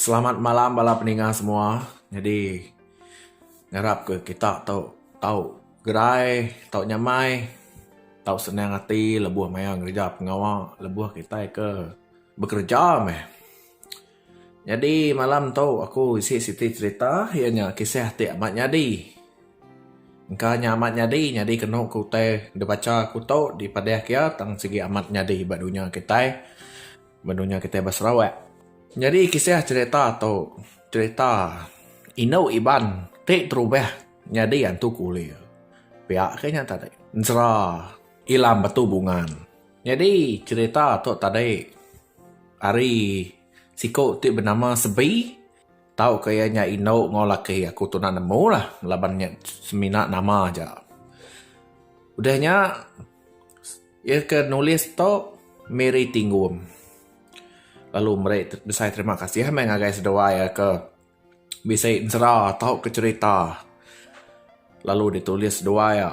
Selamat malam bala peninga semua. Nyadi ngarap ke kita tu tau gerai, tau nyamai, tau senang ati lebuh maya ngereja pengawa, lebuh kitai ke bekereja meh. Nyadi malam tu aku isi siti cerita iya nya kisah ti amat nyadi. Engka nya amat nyadi, nyadi kenu ku utai dibacha aku tu, dipadahka iya tang sigi amat nyadi ba dunya kitai. Benung nya kitai ba Sarawak. Nyadi kisah cherita tu cherita indu Iban ti terubah nyadi antu kulir. Pia ke nya tadi. Ensera Ilam Batu Bungan. Nyadi cherita tu tadi ari siku ti benama Sebi tauka iya nya indu enggau laki aku tu enda nemu lah laban nya semina nama aja. Udah nya. Iya ke nulis tu Mary Tingum. Lalu meri besai terima kasih meh ngagai seduai iya ke bisi ensera tauka cherita lalu ditulis seduai iya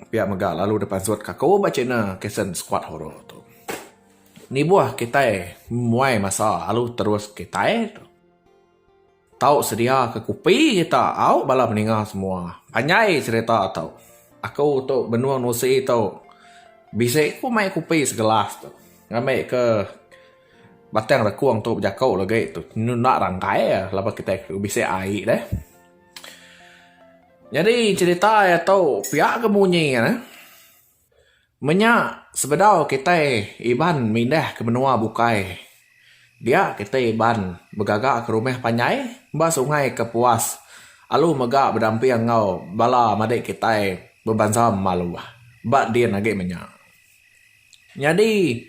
pia mega lalu dipansutka aku ba channel Kasen Skuad Horor tu. Nibuh kitai memuai masa lalu terus kitai. Tau sedia ke kopi kita au bala meninga semua panjai serita tu aku tu benung usi tu bisi ku mai kopi segelas tu ngambi ke batang rekung tu bejaku lagi tu inu enda rangkai laban kitai bisi ai deh nyadi serita tu pia ke munyi ne. Menya sebedau kitai Iban mindah ke menua bukai, dia kitai Iban begaga ke rumah panjai ba Sungai Kapuas alu mega bedamping enggau bala madik kitai bebansa Maluh ba din agi menya. Nyadi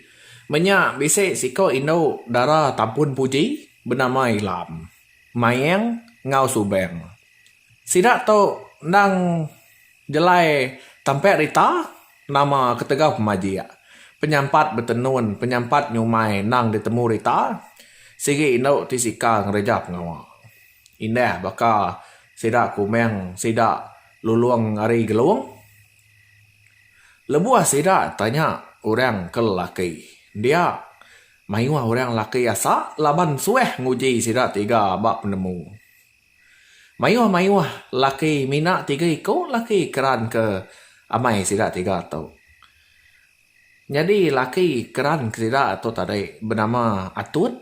menya bisi siko indu dara Tampun Puji benama Ilam, Mayang enggau Subang. Sida tu endang jelai tampi rita nama ketegal pemajik. Penyampat betenun, penyampat nyumai endang ditemu rita. Sigi indu ti sika ngereja pengawa. Indah baka sida kumang sida lulong ari Gelong. Lebuh sida tanya orang ke lelaki dia mayuh orang lelaki asa laban suah nguji sida tiga ba penemu. Mayuh-mayuh laki mina tiga iku laki keran ke amai sida tiga tu. Nyadi laki keran ke sida tu tadi benama Atut,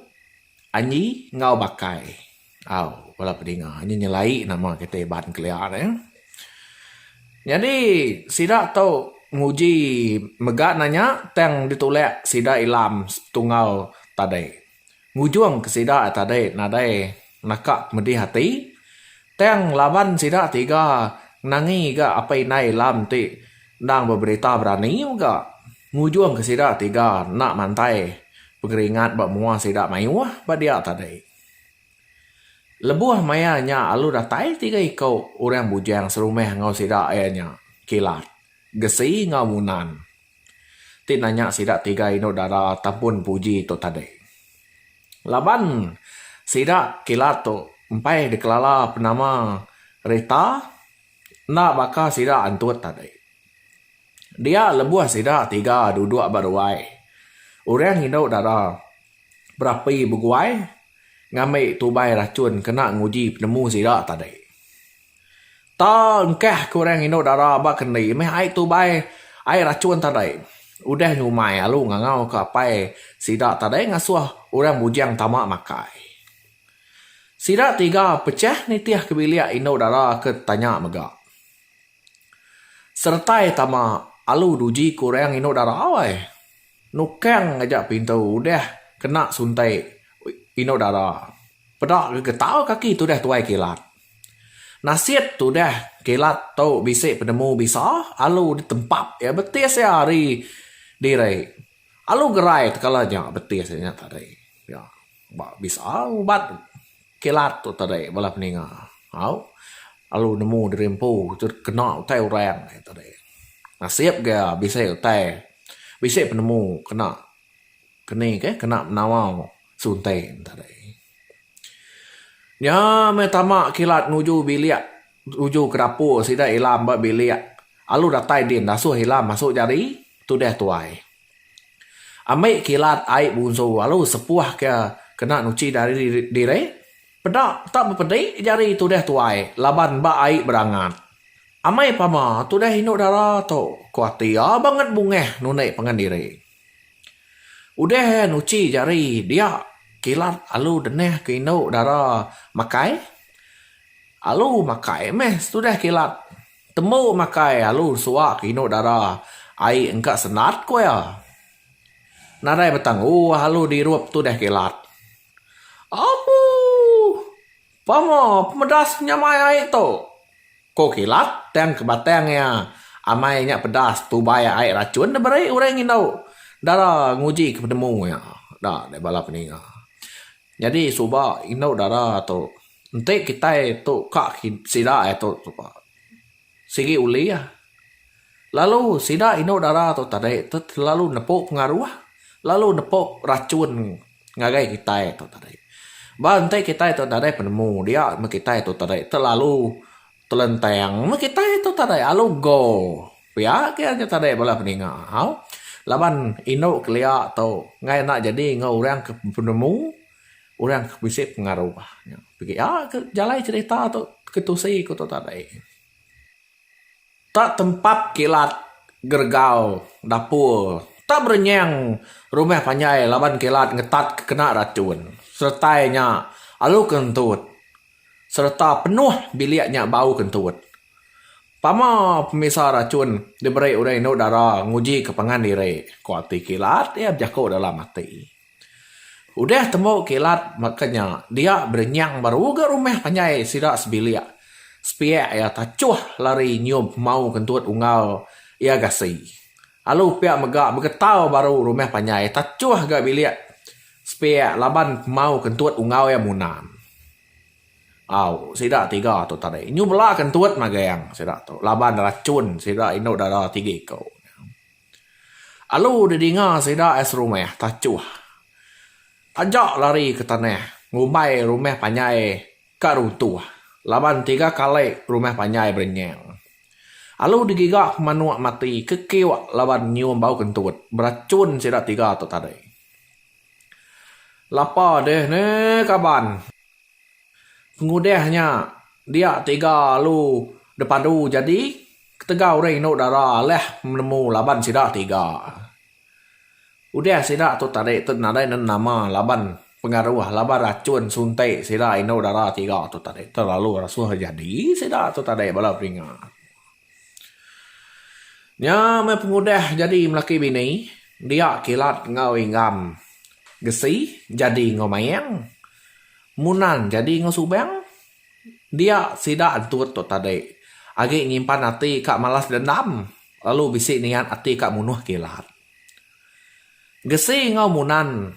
Anyi enggau Bakai. Au bala pedinga nyi nyelai nama kitai Iban kelia ne. Nyadi sida tu nguji mega nanya tang ditulak sida ilam setungal tadi. ngujung ke sida tadi nadai naka pedih ati tang laban sida tiga ngenangi ga apai indai alam ti endang beberita berani mega ngujung ke sida tiga enda mantai pengeringat ba mua sida mayuh ba dia tadi. Lebuh maya nya lalu datai tiga iku orang bujang serumah enggau sida iya nya Kilat, Gesi enggau Munan. ti nanya sida tiga indu dara Tampun Puji tu tadi. Laban sida kilat tu empai dikelala penama Rita enda baka sida antut tadi. Dia lebuh sida tiga duduk ba ruai, orang indu dara berapi beguai ngambi tubai rachun kena nguji penemu sida tadi. Tau engkah ke orang indu dara ba kendi meh ai tubai ai rachun tadai. Udah nyumai alu ngangau ke apai sida tadai ngasuh orang bujang tama makai. Sida tiga pechah nitih ke bilik indu dara ke tanya mega. Seretai tama alu duji ke orang indu dara ai. Nukang aja pintu udah kena suntai indu dara. Peda ke getau kaki tudah tuai kilat. Nasit tudah kilat tu bisi penemu bisa alu ditempap iya betis iya ari diri. Alu gerai tekala nya betis iya nya tadi. Iya ba bisa ubat kilat tu tadi bala peninga. Au alu nemu diri empu tut kena utai orang aja tadi. Nasit ga bisi utai bisi penemu kena keni ke kena menawau Sunteng tadi. Nya meh tama kilat nuju bilik nuju ke dapur sida ila meba bilik alu datai din dasuh ila masuk jari tudah tuai. Ambi kilat ai bunsu alu sepuh ke kena nuchi jari diri peda tak bepedi jari tudah tuai laban ba ai berangat. Amai pama tudah indu dara tu ku ati iya banget bungah nunik pangan diri. Udah iya nuchi jari dia kilat alu denih ke indu dara makai. Alu makai meh setudah kilat. Tembu makai alu suwa ke indu dara ai engka sendat ku iya. Nadai betangguh alu dirup tudah kilat. Abuh! Pama pemedas penyamai ai tu, ko Kilat tang ke batang iya amai nya pedas tubai ai rachun diberi orang ngindu dara nguji ke penemu iya da deh bala peninga. Nyadi suba indu dara tu enti kitai tu ka sida ai tu suba. Sigi ulih. Lalu sida indu dara tu tadi tu telalu nepu pengaruh lalu nepu rachun ngagai kitai tu tadi. Ba enti kitai tu nadai penemu dia meh kitai tu tadi telalu telentang meh kitai tu tadi alu go. Pia ke nya tadi bala peninga au laban indu kelia tu ngai enda jadi enggau orang ke penemu. Orang ke bisi pengaru nya pigi ya ke jalai cerita tu ke tusi ku tu tadi. Tak tempat kilat geregau dapur, tak berenyang rumah panjai laban kilat ngetat ke kena racun. Seretai nya alu kentut sereta penuh bilik nya bau kentut. Pama pemisa racun diberi orang indu dara nguji ke pangan diri, kualiti kilat iya bejaku dalam ati. Udah temu kilat baka nya, dia berenyang baru ga rumah panjai sida sebilik. Sepiak iya tachuh lari nyium hemau kentut unggal iya gasi. Alu pia mega begetau baru rumah panjai tachuh ga bilik sepiak laban hemau kentut unggal iya munan. Au, sida tiga tu tadi nyu bela kentut magang sida tu laban rachun sida indu dada tiga iku. Alu didinga sida ai serumah tachuh taja lari ke tanah ngumbai rumah panjai ka runtuh laban tiga kali rumah panjai berenyang. Alu digiga ke manuk mati ke kiuk laban nyium bau kentut berachun sida tiga tu tadi. Lapa deh ne kaban. Pengudah nya, dia tiga alu depadu jadi ketegal orang indu dara alah menemu laban sida tiga. Udah sida tu tadi tu nadai nemu nama laban pengaruh laban rachun sunti sida indu dara tiga tu tadi terlalu rasuh jadi sida tu tadi bala beringat. Nya meh pengudah jadi lelaki bini, dia kilat enggau inggam, gesi jadi enggau mayang, munan jadi enggau subang, dia sida entut tu tadi agi nyimpan ati ka malas dendam lalu bisi niat ati ka munuh kilat. Gesi enggau munan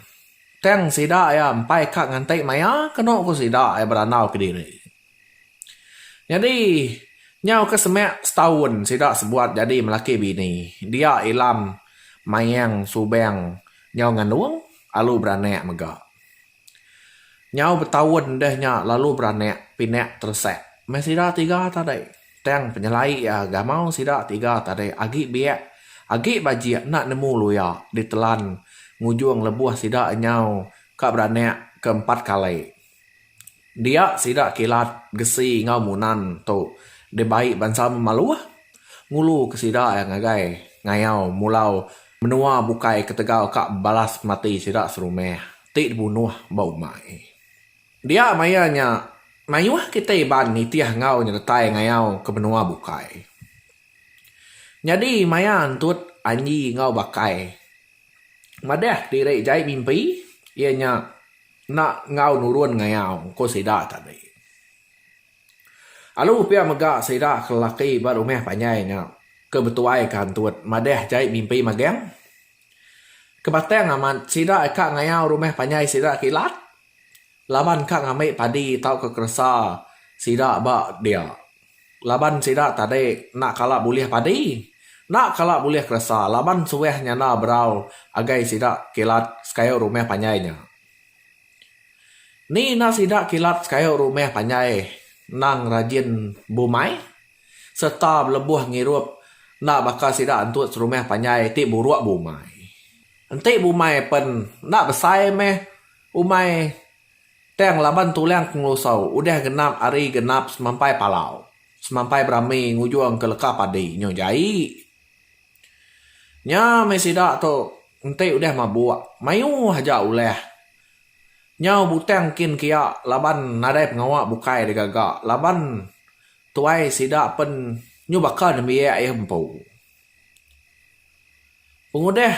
tang sida iya empai ka nganti maya kenu ku sida iya berandau kediri. Nyadi, nyau ke semak setaun sida sebuat nyadi melaki bini, dia Ilam Mayang Subang nyau ngandung lalu beranak mega. Nyau betaun deh nya lalu beranak pina teresak meh sida tiga tadi. Tang penyelai iya gamau sida tiga tadi agi biak, agi bajik enda nemu luya ditelan ngujung lebuh sida nyau ka beranak ke empat kali. Dia sida kilat gesi enggau munan tu dibai bansa Memaluh ngulu ke sida iya ngagai ngayau mulau menua bukai ketegal ka balas mati sida serumah ti dibunuh ba umai. Dia maya nya mayuh kitai Iban nitih enggau nyeretai ngayau ke menua bukai. Nyadi maya entut Anji enggau Bakai madah diri jai mimpi iya nya. Enda enggau nurun ngayau, ku sida tadi. Alu pia mega sida ke lelaki ba rumah panjai nya ke betuaika Antut madah jai mimpi magang. Kebatang amat sida ka ngayau rumah panjai sida ke ilat laban ka ngambi padi tauka keresa sida ba dia. Laban sida tadi enda kala bulih padi, enda kala bulih keresa laban suah nyanda berau agai sida kilat sekayu rumah panjai nya. Ni enda sida kilat sekayu rumah panjai endang rajin bumai sereta belebuh ngirup enda baka sida entu serumah panjai ti buruk bumai. Enti bumai pen enda besai meh umai. Tang laban tulang pengelusau udah genap ari genap semampai palau, semampai berami ngujung ke leka padi nyu jai. Nya meh sida tu enti udah mabuk, mayuh aja ulah. Nyau butang kin kia laban nadai pengawa bukai digaga laban tuai sida pen nyu baka nembiak iya empu. Pengudah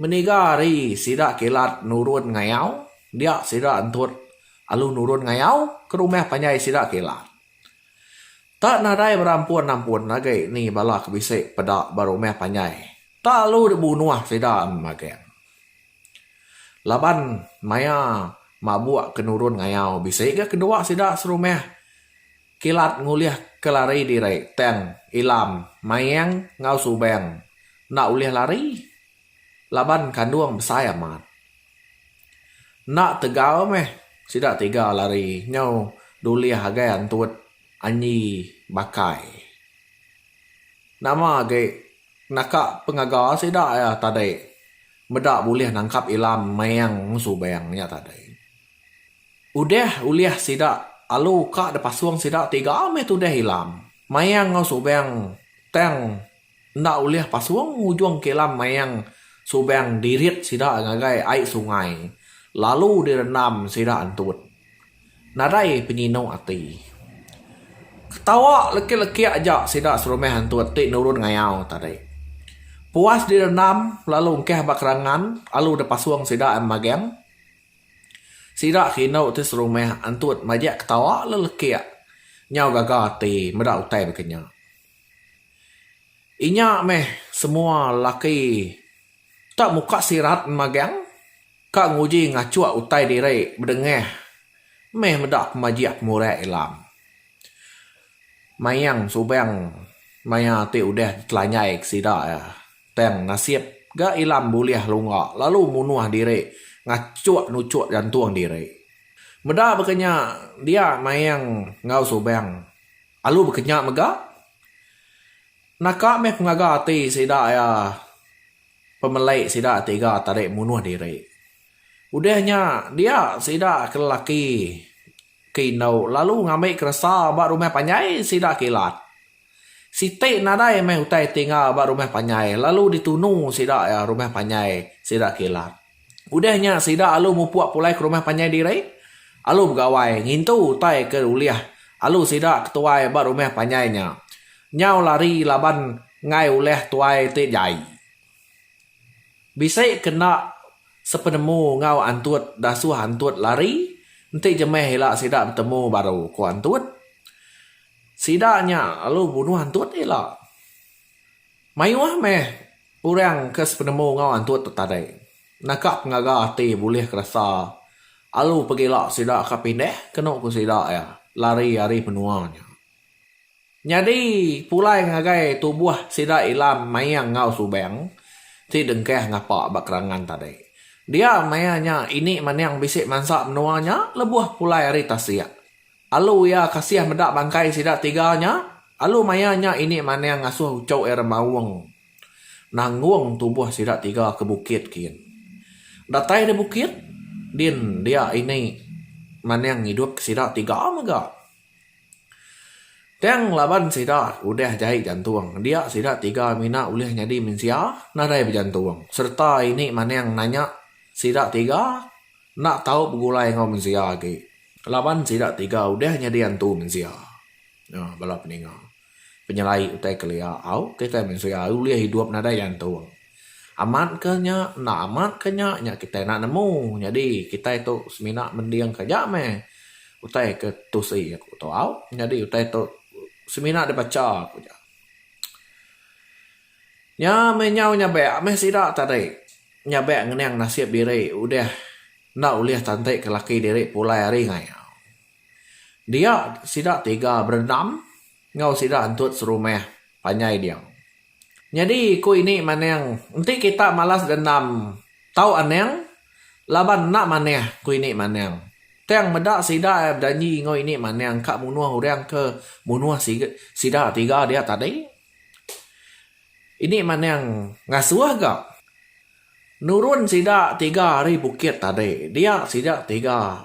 meniga hari sida kilat nurun ngayau dia sida entut alu nurun ngayau ke rumah panjai sida kilat. Tak nadai berampun ampun agi ni bala ke bisi peda ba rumah panjai tak alu dibunuh sida magang. Laban maya mabuk ke nurun ngayau bisi ga kedua sida serumah Kilat ngulih ke lari diri tang Ilam, Mayang enggau Subang enda ulih lari laban kandung besai amat. Enda tegal meh sida tiga lari nyau dulih agai antut Anyi Bakai. Nama agi naka pengaga sida iya tadi meda bulih nangkap Ilam, Mayang enggau Subang nya tadi. Udah ulih sida alu ka dipasung sida tiga meh tudah ilam mayang enggau subang tang enda ulih pasung ngujung ke ilam mayang subang dirit sida ngagai ai sungai lalu direndam sida entut. Nadai penyinu ati. Ketawa lekik-lekik aja sida serumah entut ti nurun ngayau tadi. Puas direndam lalu engkah ba kerangan alu dipasung sida magang. Sida ke indu ti serumah antut majak ketawa le lekik nyau gaga ati meda utai baka nya. Inya meh semua lelaki tak muka sirat enda magang ka nguji ngachuk utai diri bedengah meh meda pemajik pemurak ilam. Mayang subang maya ti udah ditelanjai ke sida iya. Tang nasib ga Ilam bulih lunga lalu munuh diri ngachuk nuchuk jantung diri. Meda baka nya dia Mayang enggau Subang alu baka nya mega. Naka meh pengaga ati sida iya pemelai sida tiga tadi munuh diri. Udah nya dia sida ke lelaki ke indu lalu ngambi keresa ba rumah panjai sida kilat. Siti nadai meh utai ti enggau ba rumah panjai lalu ditunu sida iya rumah panjai sida kilat. Udah nya sida alu mupuk pulai ke rumah panjai diri. Alu begawai ngintu utai ke ulih alu sida ke tuai ba rumah panjai nya nyau lari laban enggai ulih tuai ti jai. Bisi ke enda sepenemu enggau antut dasuh antut lari enti jemeh ila sida betemu baru, ku antut. Sida nya lalu bunuh antut ila. Mayuh meh orang ke sepenemu enggau antut tu tadi naka pengaga ati bulih ke rasa alu pegila sida ka pindah kenu ku sida iya lari ari menua nya. Nyadi pulai ngagai tubuh sida ila mayang enggau subang ti dengkah ngapa ba kerangan tadi. Dia maya nya ini maning bisi mansa menua nya lebuh pulai ari tasik. Alu iya kasih meda bangkai sida tiga nya. Alu maya nya ini Manang ngasuh uchu iya remaung nanggung tubuh sida tiga ke bukit kin. Datai di bukit din dia ini Manang ngidupka sida tiga mega. Tang laban sida udah jai jantung, dia sida tiga mina ulih nyadi mensia nadai bejantung sereta ini Manang nanya sida tiga enda tau begulai enggau mensia agi laban sida tiga udah nyadi antu mensia. Nah bala peninga, penyelai utai kelia au kitai mensia ulih idup nadai gantung. Amat ke nya enda amat ke nya, nya kitai enda nemu nyadi kitai tu semina mendingka aja meh utai ke tusi aku tu au nyadi utai tu semina dibacha aku ja. Nya meh nyau nyabek meh sida tadi. Nyabek ngening nasib diri udah enda ulih tantika laki diri pulai hari ngayau. Dia sida tiga berendam enggau sida entut serumah panjai dia. Nyadi ku ini maning enti kita malas dendam tau aning laban enda manah ku ini maning. Tang meda sida bejanji enggau ini maning ka munuh orang ke munuh sida tiga dia tadi. Ini manang ngasuh ga nurun sida tiga ari bukit tadi dia sida tiga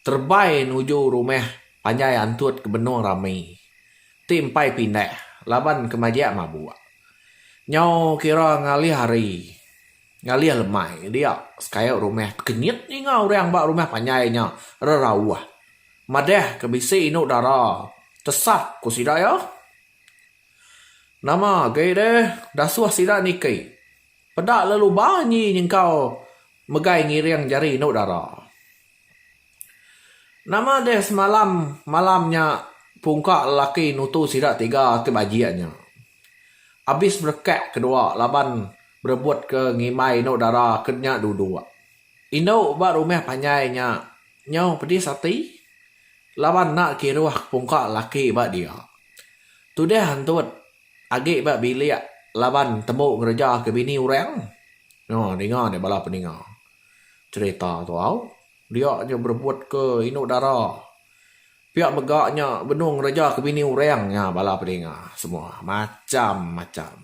terebai nuju rumah panjai antut ke benung rami ti empai pindah laban ke majak mabuk nyau kira ngalih hari ngalih lemai dia sekayak rumah tekenyit ninga orang ba rumah panjai nya rerauh madah ke bisi inu dara tesah ku sida iya. Nama agi deh dasuh sida niki. Peda lalu ba nyi nyengkau megai ngiring jari enu dara. Nama deh semalam malam nya pungka lelaki nutu sida tiga ti bajik nya. Abis berekak ke dua laban berebut ke ngimbai enu dara ke nya duduk. Indu ba rumah panjai nya nyau pedis ati laban enda kiruh pungka laki ba dia. Tudah entut agi ba bilik laban tembu ngereja ke bini orang. Noh dinga deh bala peninga cherita tu au. Dia nya berebut ke indu dara. Pia mega nya benung ngereja ke bini orang nya bala peninga semua macham macham.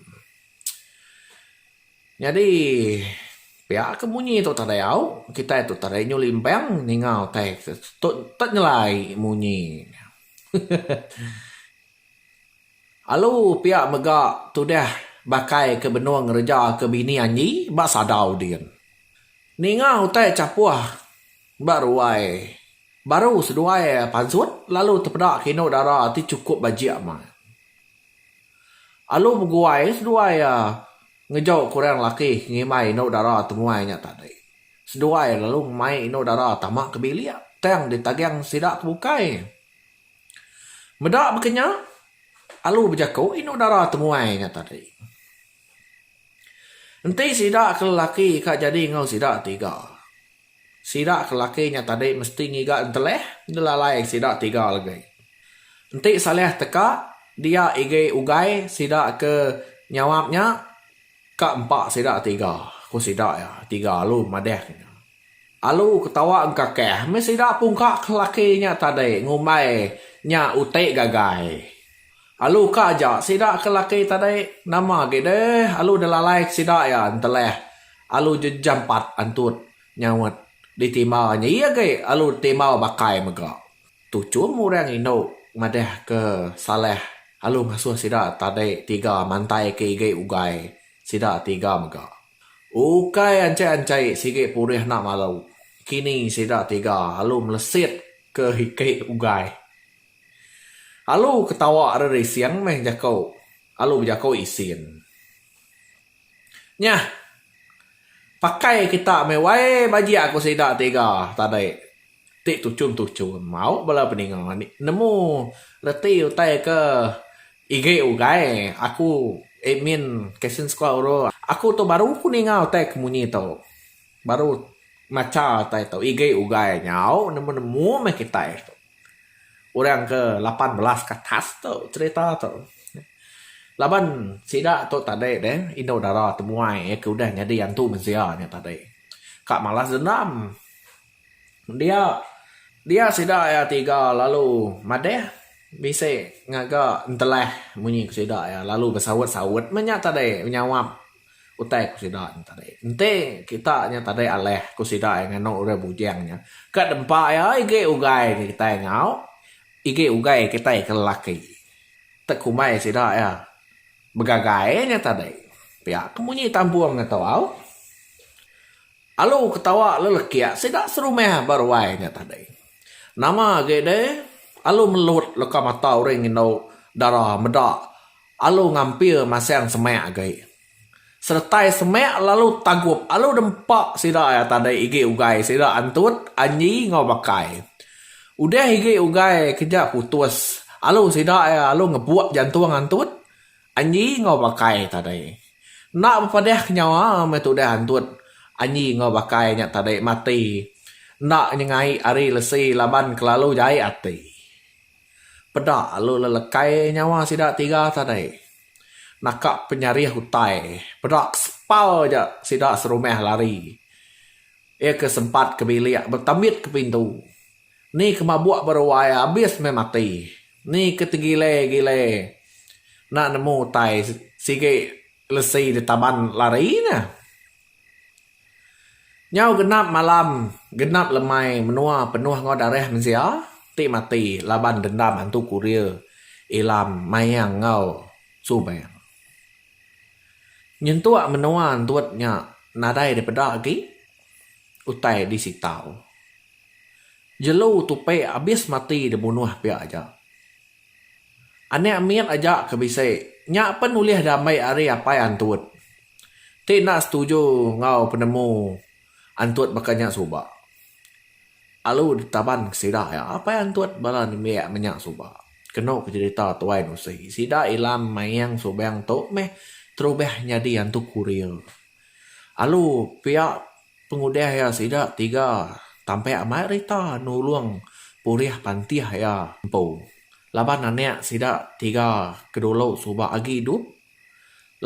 Nyadi, pia ke munyi tu tadai au, kitai tu tadai nyu limbang ninga utai ke tu tek nyelai munyi nya. Alu pia mega tudah bakai ke benung ngereja ke bini anyi ba sadau din. Ninga utai chapoh ba ruai baru seduai pansut lalu tepeda ke inu dara ti chukup bajik mat. Alu beguai seduai iya ngejau ke orang laki ke ngimbai indu dara temuai nya tadi. Seduai lalu ngemai indu dara tama ke bilik tang ditaging sida ke bukai. Meda baka nya, alu bejaku indu dara temuai nya tadi. Enti sida ke lelaki ka jadi enggau sida ti ga. Sida ke laki nya tadi mesti ngiga enteleh ngelalai sida tiga legi. Enti Saleh teka, dia igi ugai sida ke nyawap nya ka empa sida tiga, ku sida iya tiga alu madahka nya. Alu ketawa engkakah meh sida pungka ke laki nya tadi ngumbai nya uti gagai. Alu ka aja sida ke laki tadi nama agi deh alu da lalai ke sida iya enteleh alu jejampat antut nyaut di timba nya iya agi alu timba bakai mega tuchum orang indu madah ke salah alu ngasuh sida tadi tiga mantai ke igi ugai sida tiga mega ukai anchai anchai sigi purih enda malu kini sida tiga alu melesit ke igi ugai. Alu ketawa ari rising meh jaku alu bejaku isin. Nyah. Pakai kita meh wai bajik aku sida tiga tadi ti tuchun-tuchun mau bala peninga ni nemu reti utai ke igi ugai aku admin Kasen Sekula Oro aku tu baru ku ninga utai ke munyi tu baru macha utai tu igi ugai nyau nemu-nemu meh kitai. orang ke lapan belas ke atas tu cerita tu laban sida tu tadi deh indu dara temuai iya ke udah nyadi antu mensia nya tadi ka malas dendam dia dia sida iya tiga lalu madeh bisi ngaga entelah munyi ke sida iya lalu besaut-saut meh nya tadi nyawap. Utai ku sida nya tadi. Enti kita nya tadi alih ku sida iya nganu urang bujang nya, ka dempa iya igi ugai nya kitai enggau igi ugai kitai ke lelaki. Tekumbai sida iya begagai nya tadi. Pia ke munyi tampung ngetu au. Alu ketawa lelekik sida serumah ba ruai nya tadi. Nama agi deh alu melut leka mata urang indu dara meda Alu ngampir masang semak agi. Seretai semak lalu tagup alu dempa sida iya tadi igi ugai sida antut, anyi enggau bakai. Udah igi ugai keja putus alu sida iya alu ngebuk jantung antut, anyi enggau bakai tadi. Enda bepadahka nyawa meh tudah antut, anyi enggau bakai nya tadi mati enda nyengai ari lesi laban kelalu jai ati. Peda lalu lelekai nyawa sida tiga tadi naka penyarih utai peda sepal aja sida serumah lari. Iya ke sempat ke bilik betambit ke pintu. Ni ke mabuk ba ruai abis meh mati. Ni ke tegile-gile enda nemu utai sigi lesi ditaban lari nya. Nyau genap malam genap lemai menua penuh enggau darah mensia ti mati laban dendam antu kurir Ilam Mayang enggau Subang. Nyentuk menua entut nya nadai dipeda agi utai disitau. Jelu Tupi abis mati dibunuh pia aja. Anak mit aja ke bisi. Nya pen ulih diambai ari apai antut. Ti enda setuju enggau penemu antut baka nya suba. Alu ditaban ke sida iya apai antut bala nembiak menya suba. Kenu ke jerita tuai nusi sida ilam mayang subang tu meh terubah nyadi antu kurir. Alu pia Pengudah iya sida tiga tampek amai rita nulung pulih pantih iya empu laban anak sida tiga ke dulu suba agi idup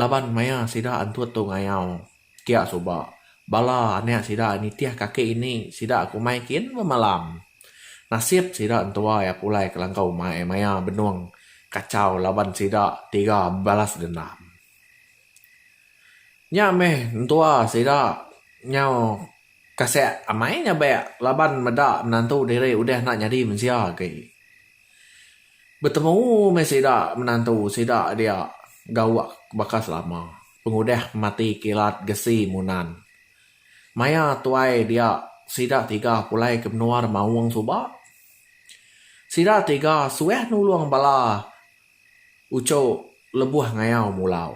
laban maya sida antut tu ngayau kia suba bala anak sida nitih kaki ini sida ke umai kin bemalam. Nasib sida entua iya pulai kelangkau umai maya benung kachau laban sida tiga bebalas dendam. Nya meh entua sida nyau kasek amai nyabek laban meda menantu diri udah enda nyadi mensia agi. Betemu meh sida menantu sida dia gauk baka selama pengudah mati kilat gesi munan. Maya tuai dia sida tiga pulai ke menua remaung suba. Sida tiga suah nulung bala. Uco lebuh ngayau mulau.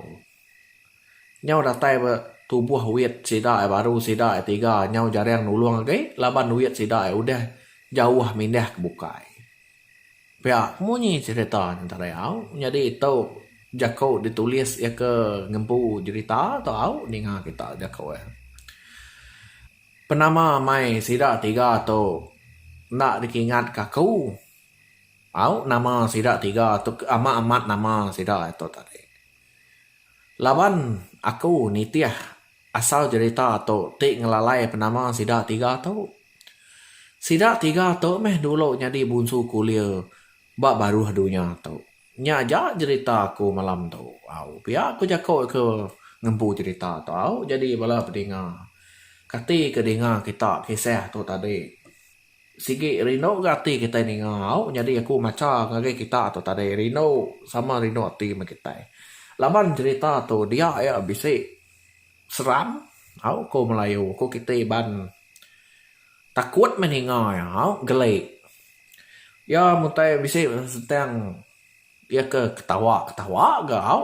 Nyau datai ba tubuh wit sida ai baru sida ai tiga nyau jarang nulung agi laban wit sida ai udah jauh mindah ke bukai. Pia ke munyi cerita Nentara Au nyadi tu jaku ditulis iya ke ngempu jerita tu au ninga kita jaku iya. Penama mai sida tiga tu enda dikingatka aku. Tau nama sida tiga tu ke amat-amat nama sida tu tadi. Laban aku nitih asal jerita tu ti ngelalai penama sida tiga tu. Sida tiga tu meh dulu nyadi bunsu kulir ba baruh dunya tu. Nya aja jerita aku malam tu. Au pia ku jaku ke ngempu jerita tu au jadi bala pedinga. Kati ke dinga kita kisah tu tadi. Sigi rindu ga ati kitai ninga au nyadi aku macha ngagai kita tu tadi rindu sama rindu ati meh kitai. Laban cerita tu dia iya bisi seram au ko melayu ko kiti iban takut meh ninga iya au geli. Iya mun tai bisi sentang iya ke ketawa ketawa ga au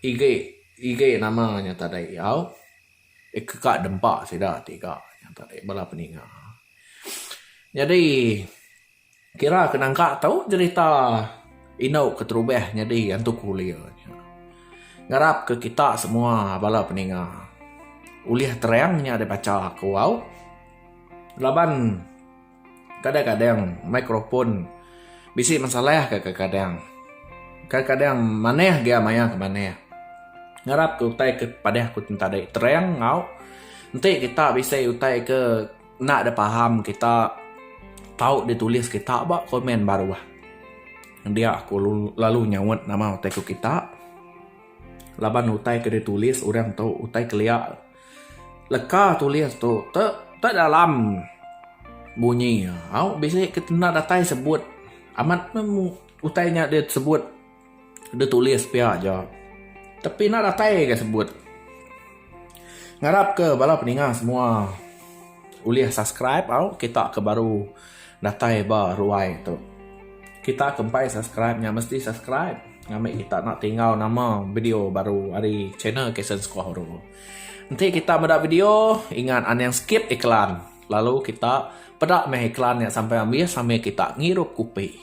igi igi nama nya tadi au. Ka dempa sida tiga nya tadi bala peninga. Nyadi kira ke nangka tu jerita indu keterubah nyadi antu kulir nya. Ngarap ke kita semua bala peninga ulih terang nya dibacha aku au laban. Kadang-kadang mikrofon bisi masalah ka kadang-kadang. Kadang-kadang manah ga maya ke manah. Ngarap ke utai ke padah ku tadi terang enggau enti kita bisi utai ke enda dep paham kita tau ditulis kita ba komen baruh. Dia ku lalu nyaut nama utai ku kita laban utai ke ditulis orang tu utai kelia. Leka tulis tu te te dalam bunyi iya. Au bisi ke kena datai sebut amat ne mung utai inya deh sebut deh tulis pia aja. Tang pina datai ga sebut. Ngarap ke bala peninga semua ulih subscribe au kita ke baru. Datai ba ruai tu. Kita ke empai subscribe nya mesti subscribe ngambi kita enda tinggal nama video baru ari channel Kasen Sekuh Huru. Enti kita meda video ingat anang skip iklan lalu kita peda meh iklan nya sampai ambis sambil kita ngirup kupi.